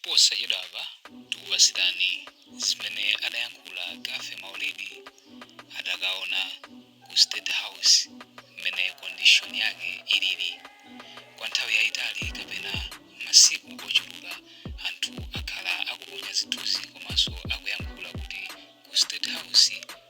Posachedwapa tikupatsirani zimene adayankhula Gaffy Maulidi adakaona ku State House mmene condition yake ilili. Kwa nthawi yaitali kapena masiku ochuluka anthu akhala akuponya zithunzi komanso akuyankhula kuti ku State House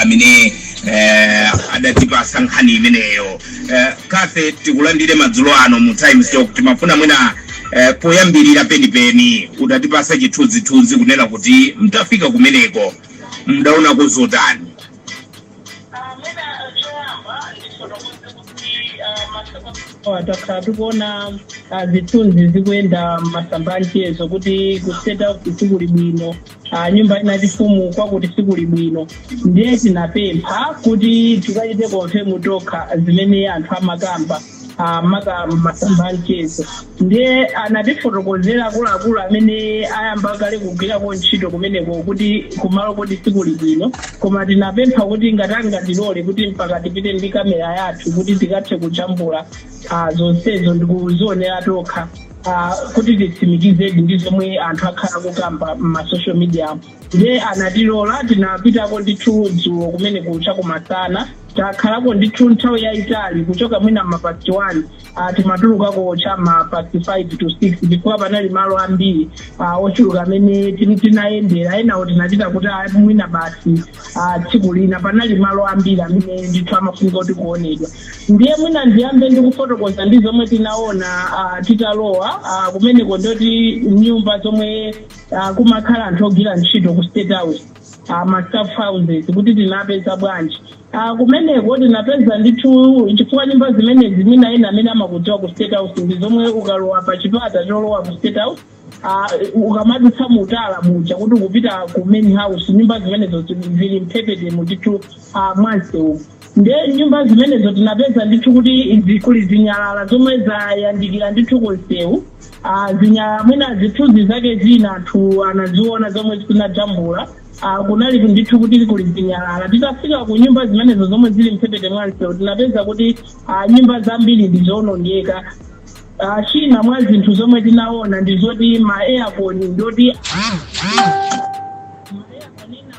amene eh, adatipasa nkhani imeneyo eh, Gaffy tikulandire madzulo ano mu Times Talk timafuna mwina eh, poyambirira penipeni utatipasa chithunzithunzi kunena kuti mtafika kumeneko mdaonako zotani takhala tikuona ah, zithunzi zikuyenda masamba anchezo kuti kuseta sikuli bwino a nyumba yachifumu kwakuti sikuli bwino ndiye tinapempha kuti tikachite confirm tokha zimene anthu amakamba ah, maka masamba a mchezo ndiye anatifotokozera akuluakulu amene ayamba kale kugwirako ntchito kumeneko kuti kumaloko sikuli bwino koma tinapempha kuti ngati angatilole kuti mpaka tipite ndi kamera yathu kuti tikathe kujambula ah, zonsezo ndikuzionera tokha ah, kuti titsimikizedi ndi zomwe anthu akhala kukamba m'masocial media nde anatilola tinapitako ndithu dzulo kumene kucha kumasana takhalako ndithu nthawi yayitali kuchoka mwina mapasti 1 ah, timatulukako cha mapasti 5 to 6 chifukwa panali malo ambiri ah, ochuluka amene tin- tinayendera enawo tinachita kuti ah, mwina basi a tsiku lina panali malo ambiri amene ndithu amafunika kuti kuonedwa ndiye mwina ndiyambe ndikufotokoza ndi zomwe tinaona ah, titalowa ah, kumeneko ndoti nyumba zomwe ah, kumakhala anthu ogwira ntchito ku state house ah, ma staff houses kuti tinapeza bwanji Ah, kumeneko tinapeza ndithu chifukwa nyumba zimenezi mwina ena amene amakudziwa ku state house ndi zomwe ukalowa pa chipata cholowa ku state house Ah, ukamadutsa mu tala muja kuti ukupita ku main house nyumba zimenezo zi- zili mphepetemo ndithu ah, mwansewu nde nyumba zimenezo tinapeza ndithu kuti zi- kuli zinyalala zomwe zayandikira ndithu kunsewu Ah, zinyalala mwina zithunzi zake zina anthu anaziona zomwe tinajambula Ah, kunali ndithu kuti kuli zinyalala titafika ku nyumba zimenezo zomwe zili mphepete mwansewu tinapeza kuti ah, nyumba zambiri ndizonongeka Ah, china mwa zinthu zomwe tinaona ndi zoti ma aircon ndoti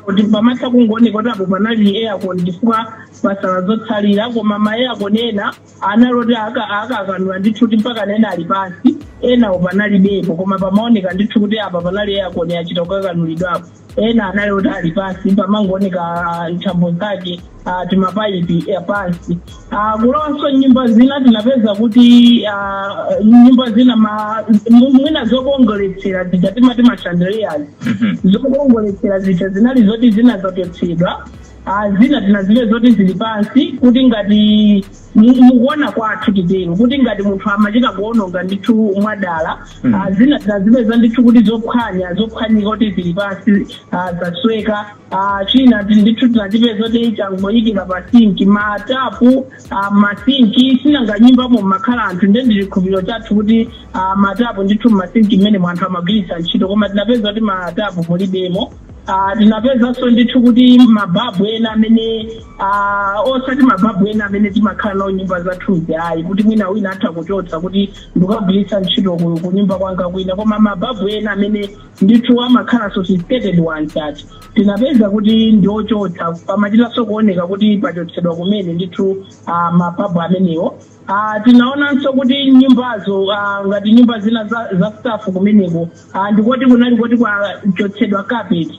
kuti pamatha kungooneka kuti apo panali aircon chifukwa pasala zotsalira koma ma aircon ena anali oti aka- akakanula ndithu kuti mpaka ena ali pansi enawo panalibepo koma pamaoneka ndithu kuti apa panali aircon yachita kukakanulidwapo ena anali kuti ali pansi pamangooneka ah, nthambo zake ah, timapaipi eh, pansi Ah, kulowanso m'nyumba zina tinapeza kuti ah, nyumba zina ma- mu- mwina zokongoletsera zija timati mashandeliyazi Mhm. zokongoletsera zija zinali zoti zina zachotsedwa Ah, zina tinazipeza zoti zili pansi kuti ngati mu- mukuona kwathu titero kuti ngati munthu amachita kuononga ndithu mwadala Mm. ah, zina tinazipeza ndithu kuti zophwanya zophwanyika kuti zili pansi ah, zasweka ah, china ti- ndithu tinachipeza kuti changoyikira pa sinki matapu ah, masinki sinanga nyumbamo mmakhala anthu nde ndi chikhulupiriro chathu kuti ah, matapu ndithu mmasinki mmene mwa anthu amagwiritsa ntchito koma tinapeza kuti matapu mulibemo Ah, tinapezanso ndithu kuti mababu ena amene ah, osati mababu ena amene timakhala nawo nyumba zathuzi ayi kuti mwina wina atha kuchotsa kuti ndikagwiritse ntchito ku ku nyumba kwanga kwina koma mababu ena amene ndithu amakhala sophisticated ones ah, tinapeza kuti ndi ochotsa pamachitanso kuoneka kuti pachotsedwa kumene ndithu ah, mababu amenewo Ah, tinaonanso kuti nyumbazo ah, ngati nyumba zina za, za staff kumeneko Ah, ndikoti kunali kuti kwachotsedwa carpet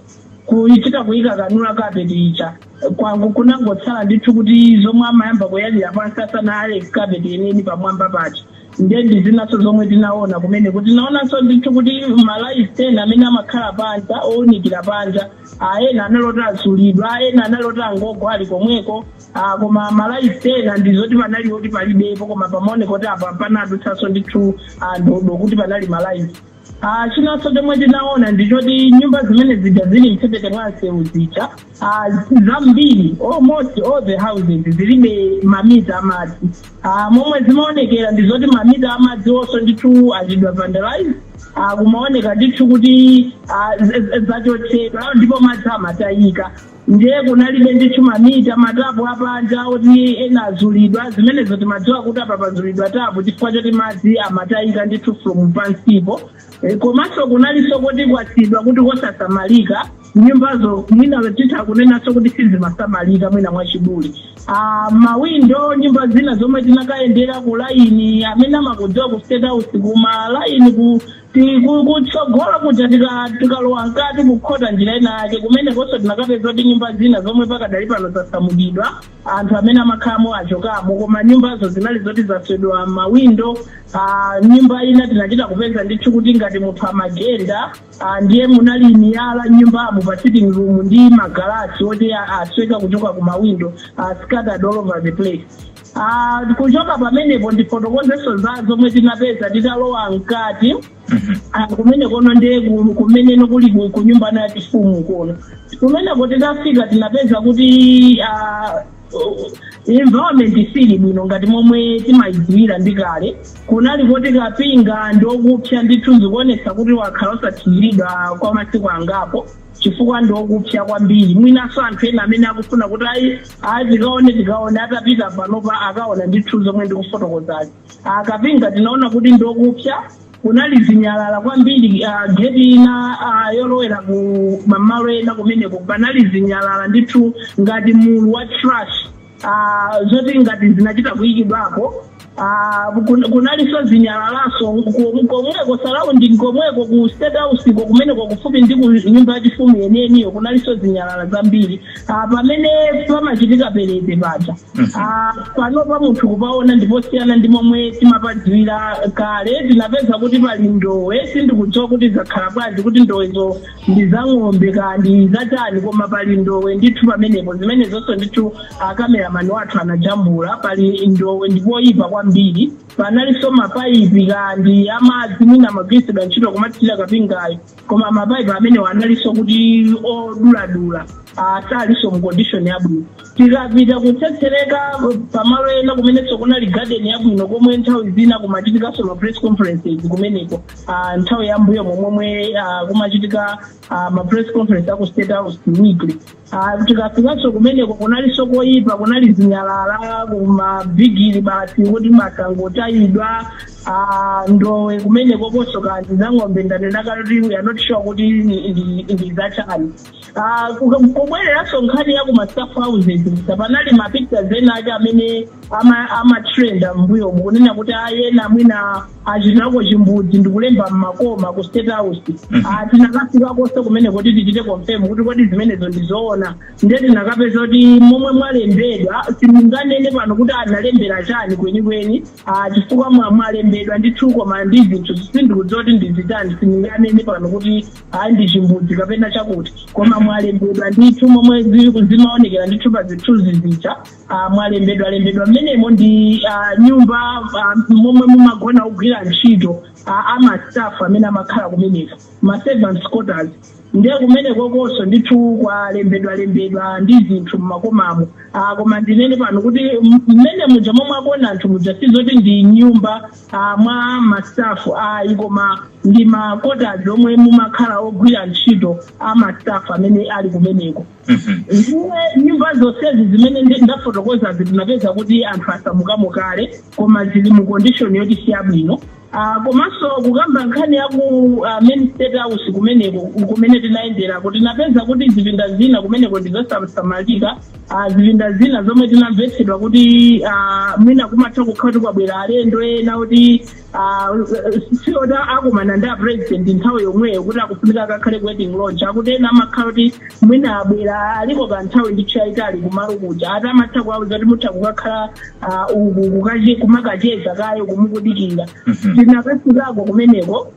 kuchita kuikanganula carpet ija kwango- kunangotsala ndithu kuti zomwe amayamba kuyalira pansi asanayale carpet yeniyeni pamwamba paja ndiye ndi zinanso zomwe tinaona kumeneko tinaonanso ndithu kuti malaiti ena amene amakhala panja owunikira panja ah, ena anali oti azulidwa ena anali oti angogwa ali komweko Ah, koma malaiti ena ndizoti panali oti palibepo koma pamaoneka kuti apa panadutsanso ndithu ndodo kuti panali malaiti Ah, chinanso chomwe tinaona ndichoti nyumba zimene zija zili mphepete mwa msewu zija ah, zambiri almost all the houses zilibe mamita amadzi Ah, momwe zimaonekera ndizoti mamita amadzi wonso ndithu achitidwa vandalize ah, kumaoneka ndithu kuti ah, z- z- zachotsedwa ndipo madzi amatayika ndiye kunalibe ndithu mamita matapu apanja oti ena azulidwa zimenezo timadziwa kuti apa pazulidwa tapu chifukwa choti madzi amatayika ndithu from pansipo Eh, komanso kunalinso kuti kwasiyidwa kuti kosasamalika nyumbazo mwina titha kunenanso kuti sizimasamalika mwina mwachidule Ah, mawindo nyumba zina zomwe tinakayendera ku laini amene amakudziwa ku state house kuma laini ku Ti- ku- kutsogolo kuja tika- tikalowa mkati kukhota njira ina yake kumenekonso tinakapeza kuti nyumba zina zomwe pakadali pano zasamutsidwa anthu amene amakhalamo achokamo koma nyumbazo zinali zoti zaswedwa mawindo ah, nyumba ina tinachita kupeza ndithu kuti ngati munthu amagenda ah, ndiye munali miyala nyumbamo pa sitting room ndi magalasi oti a- asweka kuchoka ku mawindo ah, scattered all over the place Ah, kuchoka pamenepo ndifotokozenso za zomwe tinapeza titalowa mkati Ah, kumene kono ndiye ku- kumene ndikuli ku- ku nyumba ya chifumu kuno kumeneko titafika tinapeza kuti ah, uh, environment sili bwino ngati momwe timayidziwira ndi kale kunali kuti kapinga ndi okupsa ndithu zikuonesa kuti wakhala osathiriridwa kwa masiku angapo chifukwa ndi okupsa kwambiri mwinanso anthu ena amene akufuna kuti ayi ayi tikaone tikaone atapita panopa akaona ndithu zomwe ndikufotokozazi kapinga tinaona kuti ndi okupsa kunali zinyalala kwambiri ah, geti ina ah, yolowera ku mamalo ena kumeneko panali zinyalala ndithu ngati mulu wa trash ah, zoti ngati zinachita kuyikidwapo ah, kun- kunalinso zinyalalaso kom- komweko surrounding komweko ku state house ko kumeneko kufupi ndi ku nyumba yachifumu yeniyeniyo kunalinso zinyalala zambiri ah, pamene pamachitika perete paja Ah, panopa munthu kupaona ndiposiyana ndi momwe timapadziwira kale tinapeza kuti pali ndowe sindikudziwa kuti zakhala bwanji kuti ndowezo ndi za ng'ombe kaya ndi za chani koma pali ndowe ndithu pamenepo zimenezonso ndithu akameramani wathu anajambula pali ndowe ndipoyipa kwambiri panalinso mapaipi ka ndi amadzi mwina amagwiritsidwa ntchito kumathirira kapingayo koma mapaipi amenewo analinso kuti oduladula asalinso mu condition yabwino tikapita kutsetsereka pamalo ena kumenenso kunali garden yabwino komwe nthawi zina kumachitikanso ma press conferences kumeneko ah, nthawi ya mbuyo momwe ah, kumachitika ah, ma press conference aku state house weekly Ah, tikafikanso kumeneko kunalinso koyipa kunali zinyalala kumabigiri basi kuti zangotayidwa ah, ndowe kumeneko konso kaya ndi za ng'ombe ndanena kuti we are not sure kuti ndi- ndi- ndi zachani Ah, ku- kubwereranso nkhani ya kuma staff houses kusa panali ma pictures ena ake amene ama- amatrenda mbuyomu kunena kuti ena mwina achitako chimbudzi ndikulemba mmakoma ku state house Ah, tinakafikakonso kumeneko kuti tichite confirm kuti kodi zimenezo ndizoona nde tinakapeza kuti momwe mwalembedwa sindinganene pano kuti analembera chani kwenikweni Ah, chifukwa mwa- mwalembedwa ndithu koma ndi zinthu sindikudziwa kuti ndi zichani sindinganene pano kuti ayi ndi chimbudzi kapena chakuti koma mwalembedwa ndithu momwe zi- zimaonekera ndithu pa zithunzi zija ah, mwalembedwa lembedwa mmenemo ndi ah, nyumba ah, momwe mumagona ogwira ntchito ah, amastaff amene amakhala kumeneko maservants quarters ndiye kumeneko konso ndithu kwalembedwa lembedwa ndi zinthu mmakomamo ah, koma ndinene pano kuti m- mmene muja momwe aona anthu muja sizoti ndi nyumba ah, mwa ma staff ayi koma ndi makotazi omwe mumakhala ogwira ntchito a ma staff amene ali kumeneko Mhm. ndiye nyumba zonsezi zimene ndi- ndafotokozazi tinapeza kuti anthu asamukamo kale koma zili mu condition yoti si yabwino Ah, komanso kukamba nkhani ya ku ah, main state house kumeneko kumene tinayenderako tinapeza kuti zipinda zina kumeneko ndizosasamalika Ah, zipinda zina zomwe tinamvetsedwa kuti ah, mwina kumatha kukhala kuti kwabwera alendo ena kuti ah, si oti akumana ndi a president nthawi yomweyo kuti akufunika akakhale ku waiting lounge akuti ena amakhala kuti mwina abwera aliko kanthawi ndithu yayitali kumalo kuja ati amatha kuwauza kuti mutha kukakhala ah, uku kukache- kumakacheza kayo kumukudikira Mhm. tinakafikako kumeneko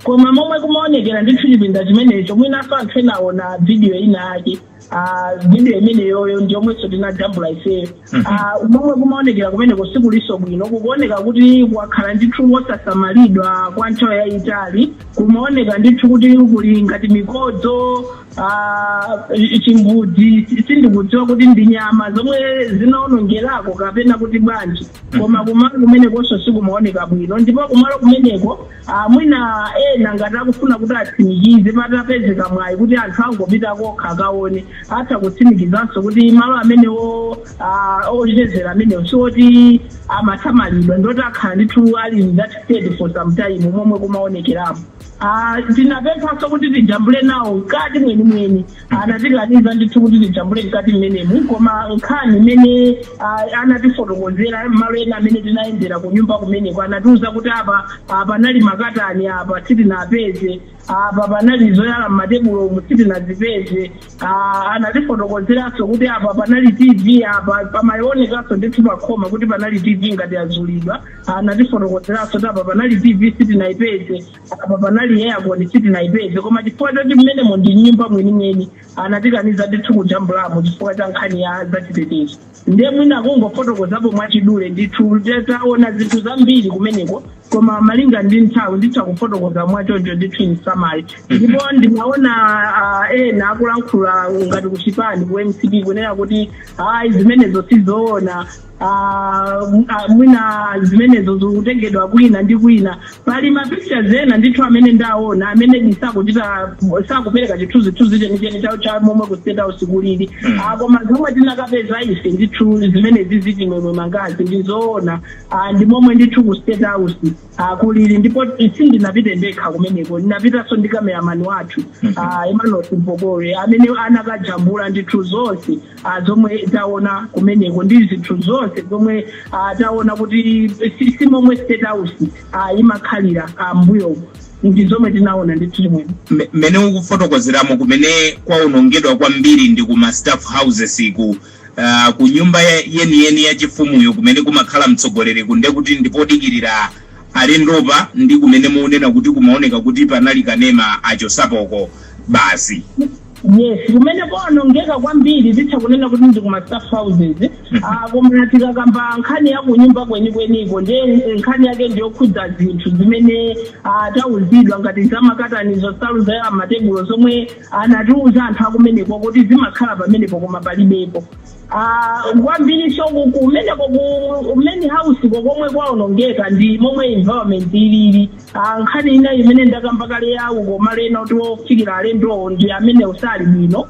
koma momwe kumaonekera ndithu chipinda chimenecho mwinanso anthu enaona vidiyo ina ake Ah, video imeneyoyo ndiyomwenso tinajambula ifeyo Mhm. Ah, momwe kumaonekera kumeneko sikulinso bwino kukuoneka kuti kwakhala ndithu wosasamalidwa kwa nthawi yayitali kumaoneka ndithu kuti kuli ngati mikodzo ah, chimbudzi si- sindikudziwa kuti ndi nyama zomwe zinaonongerako kapena kuti bwanji koma kumalo kumenekonso sikumaoneka bwino ndipo kumalo kumeneko Ah, mwina ena ngati akufuna kuti atsimikize patapezeka mwayi kuti anthu angopita kokha akaone atha kutsimikizanso kuti malo amenewo ah, ochezera amenewo sioti amasamalidwa ndi oti akhala ndithu ali in that state for some time momwe kumaonekeramo Ah, tinapemphanso kuti tijambule nawo mkati mwenimweni anatikaniza ndithu kuti tijambule mkati mmenemu koma nkhani imene ah, anatifotokozera malo ena amene tinayendera ku nyumba kumeneko anatiuza kuti apa ah, panali makatani apa sitinapeze apa panali zoyala mmatebulomu sitinazipeze Ah, anatifotokozeranso kuti apa panali tv apa pamaonekanso ndithu pakhoma kuti panali tv ngati yazulidwa anatifotokozeranso kuti apa panali tv sitinayipeze apa panali air con sitinayipeze koma chifukwa choti mmenemo ndi nyumba mwenimweni anatikaniza ndithu kujambulamo chifukwa cha nkhani ya zachitetezo ndiye mwina kungofotokozapo mwachidule ndithu te- taona zinthu zambiri kumeneko koma malinga ndi nthawi nditha kufotokoza mwachoncho ndithu in summary ndipo ndimaona ah, ena akulankhula ngati kuchipani ku mcp kunena kuti ayi zimenezo sizoona Ah, m- ah, mwina zimenezo zikutengedwa kwina ndi kwina pali mapictures ena ndithu amene ndaona amene ndi sakuchita sakupereka chithunzithunzi chenicheni cha- cha momwe ku state house kulili Mm. Ah, koma zomwe tinakapeza ife ndithu zimenezi Chimwemwe mangazi ndizoona Ah, ndi momwe ndithu ku state house ah, kulili ndipo sindinapite ndekha kumeneko ndinapitanso ndi kameramani wathu Mhm. ah, emmanuel simpokore amene anakajambula ndithu zonse ah, zomwe taona kumeneko ndi zinthu zonse zomwe ah, taona kuti si si momwe state house ah, imakhalira ah, mbuyo ndi zomwe tinaona ndithu chimwene Me- mmene ukufotokozeramo kumene kwaonongedwa kwambiri ndi ku ma staff houses ku uh, ku nyumba ya- yeniyeni ya chifumuyo kumene kumakhala mtsogoleri kunde kuti ndipodikirira alendopa ndi kumene mukunena kuti kumaoneka kuti panali kanema achotsapoko basi yes kumene kwaonongeka kwambiri titha kunena kuti ndi kuma staff houses Ah, koma tikakamba nkhani ya kunyumba kwenikweniko nde nkhani yake ndiyokhudza zinthu zimene ah, tauzidwa ngati zamakatanizo nsalu za matebulo zomwe anatiuza anthu akumeneko kuti zimakhala pamenepo koma palibepo Ah, kwambiri so ku- kumeneko ku main house ko komwe kwaonongeka ndi momwe environment ilili Ah, nkhani ina imene ndakamba kale ya kumalo ena oti ofikira alendowo ndi kumene kusali bwino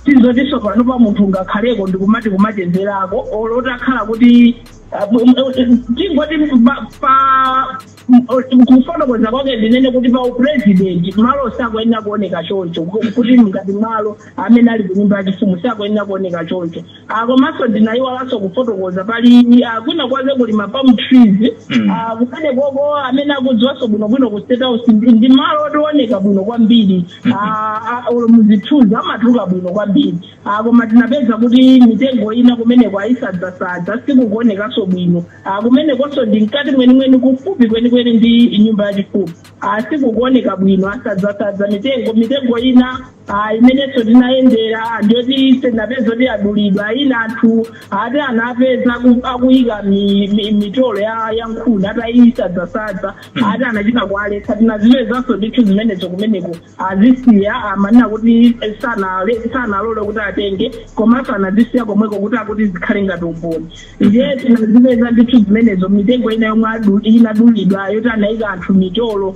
sizotinso pano pa munthu ungakhaleko ndikumati kumachezerako olo utakhala kuti ah, bu- m- eh, tingoti pa- pa- m- eh, kufotokoza kwake ndinene kuti pa upresident malo sakuyenera kuoneka choncho ku- kuti ngati malo amene ali kunyumba yachifumu sakuyenera kuoneka choncho Ah, komanso ndinayiwalanso kufotokoza pali ah, kwina kwake kuli ma palm trees Mm. Ah, kumene koko amene akudziwanso bwinobwino ku state house ndi ndi malo owoneka bwino kwambiri Ah, ah, olo muzithunzi amatuluka bwino kwambiri Ah, koma tinapeza kuti mitengo ina kumeneko ayisadzasadza sikukuonekanso bwino Ah, kumenekonso ndi mkati mwenimweni kufupi kwenikweni ndi nyumba yachifumu Ah, sikukuoneka bwino asadzasadza mitengo mitengo ina Ah, imenenso tinayendera ndiyoti tinapeza kuti adulidwa ina anthu ati anapeza aku- akuyika mi- mi- mitolo ya ya nkhuni atayisadzasadza ati anachita kuwaletsa tinazipezanso ndithu zimenezo kumeneko azisiya amanena kuti eh, sanale- sanalole kuti atenge komanso anazisiya komweko kuti akuti zikhale ngati umboni ndiye tinazipeza ndithu zimenezo mitengo ina yomwe adu- inadulidwa yoti anayika anthu mitolo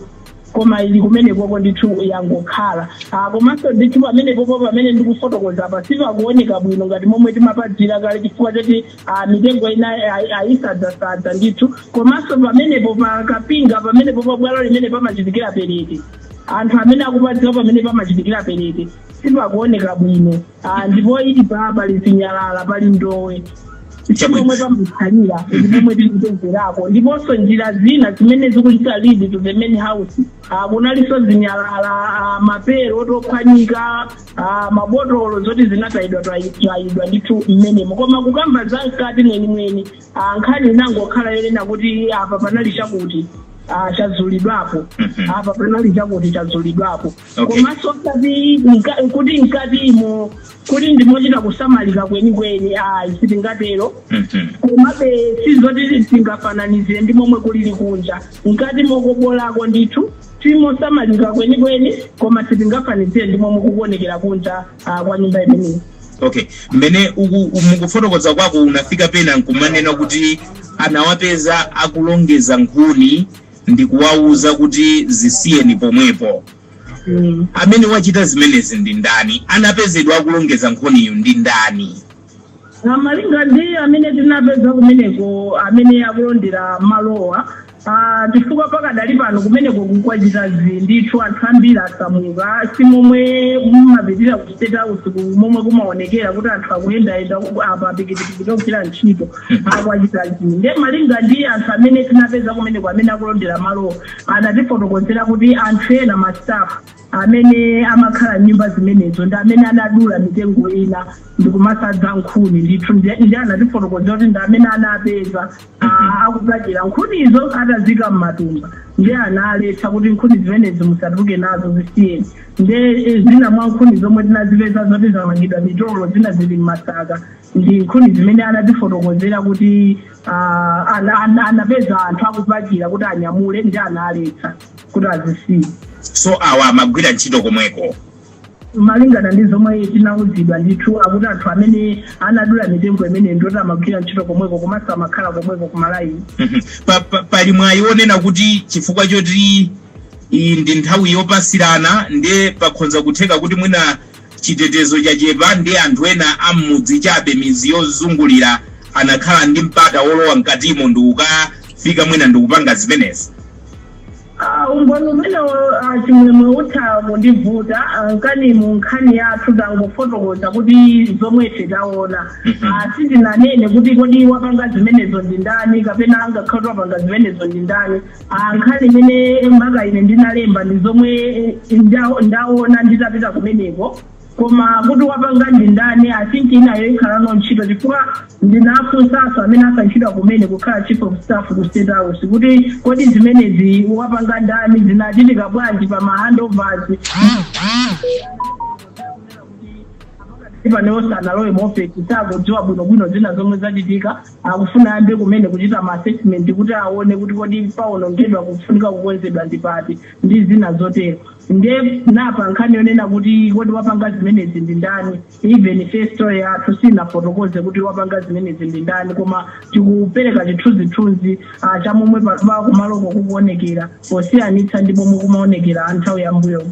koma ili kumenekoko ndithu yangokhala Ah, komanso ndithu pamenepopo pamene ndikufotokoza apa sipakuoneka bwino ngati momwe timapadziwira kale chifukwa choti ah, mitengo ina ayi- ayisadzasadza ndithu komanso pamenepo pa kapinga pamenepo pa bwalo limene pamachitikira perete anthu amene akupadziwa pamene pamachitikira perete sipakuoneka bwino Ah, ndipo ili pa pali zinyalala pali ndowe chomwe pamutsalira ndipomwe tinapezerako ndiponso njira zina zimene zikuchita lead to the main house Ah, kunalinso zinyalala ah, mapero ophwanyika ah, mabotolo zoti zinatayidwa tayidwa ndithu mmenemo koma kukamba za mkati mwenimweni ah, nkhani inangokhala yonena kuti apa panali chakuti ah, chazulidwapo apa panali chakuti chazulidwapo Okay. komanso osati mka- kuti mkatimo kuti ndimochita kusamalika kwenikweni ayi sitingatero Mhm. komabe sizoti tingafananizire ndi momwe kulili kunja mkati mokobolako ndithu timosamalika kwenikweni koma sitingafanizire ndi momwe kukuonekera kunja ah, kwa nyumba imeneyi okay mmene uku- mukufotokoza kwako unafika pena nkumanena kuti anawapeza akulongeza nkhuni ndikuwauza kuti, Zisiyeni pomwepo! Amene wachita zimenezi ndi ndani? Anapezedwa akulongeza nkhuniyu ndi ndani? Malinga ndi amene tinapeza kumeneko amene akulondera malowa, aah, chifukwa pakadali pano kumeneko kwachita zii ndithu, anthu ambiri asamuka, si momwe mumapitira ku State House momwe kumaonekera kuti anthu akuyendayenda apa pikitipikiti ogwira ntchito. akwachita izi nde malinga ndi anthu amene tinapeza kumeneko amene akulondera malowo anatifotokozera kuti anthu ena ma staff amene amakhala nyumba zimenezo ndi amene anadula mitengo ina ndikumasadza nkhuni ndithu ndi ndi anatifotokozera kuti ndi amene anapeza ah, akupachira nkhunizo atazika m'matumba ndi analetsa kuti nkhuni zimenezi musatuluke nazo zisiyeni nde eh, zina mwa nkhuni zomwe tinazipeza zoti zamangidwa mitolo zina zili m'masaka ndi nkhuni zimene anatifotokozera kuti ah, ana- ana- anapeza anthu akupachira kuti anyamule ndi analetsa kuti azisiye so awa amagwira ntchito komweko malingana ndi zomwe tinawuzidwa ndithu akuti anthu amene anadula mitengo imene ndoti amagwira ntchito komweko komanso amakhala komweko kumalaini Mhm. Pa- pa- pali mwayi wonena kuti chifukwa choti iyi ndi nthawi yopasirana ndiye pakhonza kutheka kuti mwina Chitetezo chachepa ndi anthu ena a m'mudzi chabe midzi yozungulira anakhala ndi mpata wolowa mkatimo ndikukafika mwina ndikupanga zimenezi. Uh, umboni umenewo uh, chimwemwe utha kundivuta, uh, mkati mu nkhani yathu tangofotokoza kuti zomwe ife taona uh, sindinanene kuti kodi wapanga zimenezo ndi ndani kapena angakhale wapanga zimenezo ndi ndani Ah, nkhani imene mwina ine ndinalemba ndi zomwe nda- ndaona nditapita kumeneko koma kuti wapanga ndi ndani i think inayo ikhalano ntchito chifukwa ndinafunsanso amene asankhidwa kumene kukhala chief of staff ku state house kuti kodi zimenezi wapanga ndani zinachitika bwanji pa mahandovers ndi panonso sanalowe mu ofesi sakudziwa bwinobwino zina zomwe zachitika akufuna ayambe kumene kuchita ma assessment kuti aone kuti kodi pawonongedwa pofunika kukonzedwa ndi pati ndi zina zotero nde napa nkhani yonena kuti kodi wapanga zimenezi ndi ndani even story yathu sinafotokoze kuti wapanga zimenezi ndi ndani koma tikupereka chithunzithunzi ah, cha momwe pa- pa- kumaloko kukuonekera posiyanitsa ndi momwe kumaonekera a nthawi yambuyomu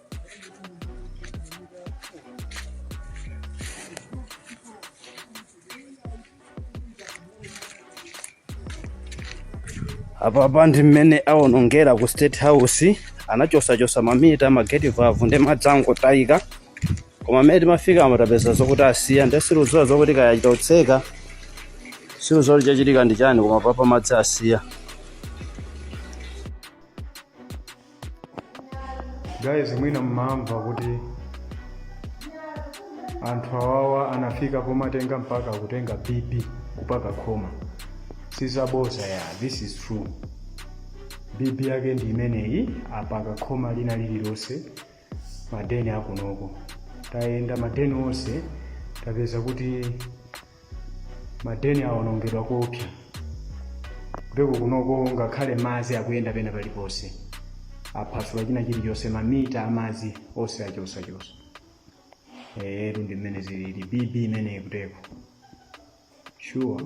apapa ndi mmene awonongera ku state house anachosachosa mamita mageti vavu ndi madzi angotayika koma mmene timafika apo tapeza zokuti asiya ndi sindikudziwa zokuti kaya atotseka sindikudziwa kuti chachitika ndi chani koma apapa madzi asiya guys mwina mmamva kuti anthu awawa anafika pomatenga mpaka kutenga bibi kupaka makoma sizabodza ya this is true bibi yake ndi imeneyi apaka khoma lina lililonse madeni akunoko tayenda madeni onse tapeza kuti madeni awonongedwa koopsa kuteko kunoko ngakhale madzi akuyenda pena paliponse aphasula china chilichonse mamita amadzi onse achosachosa eetu ndi mmene zilili bibi imeneyi kuteko sure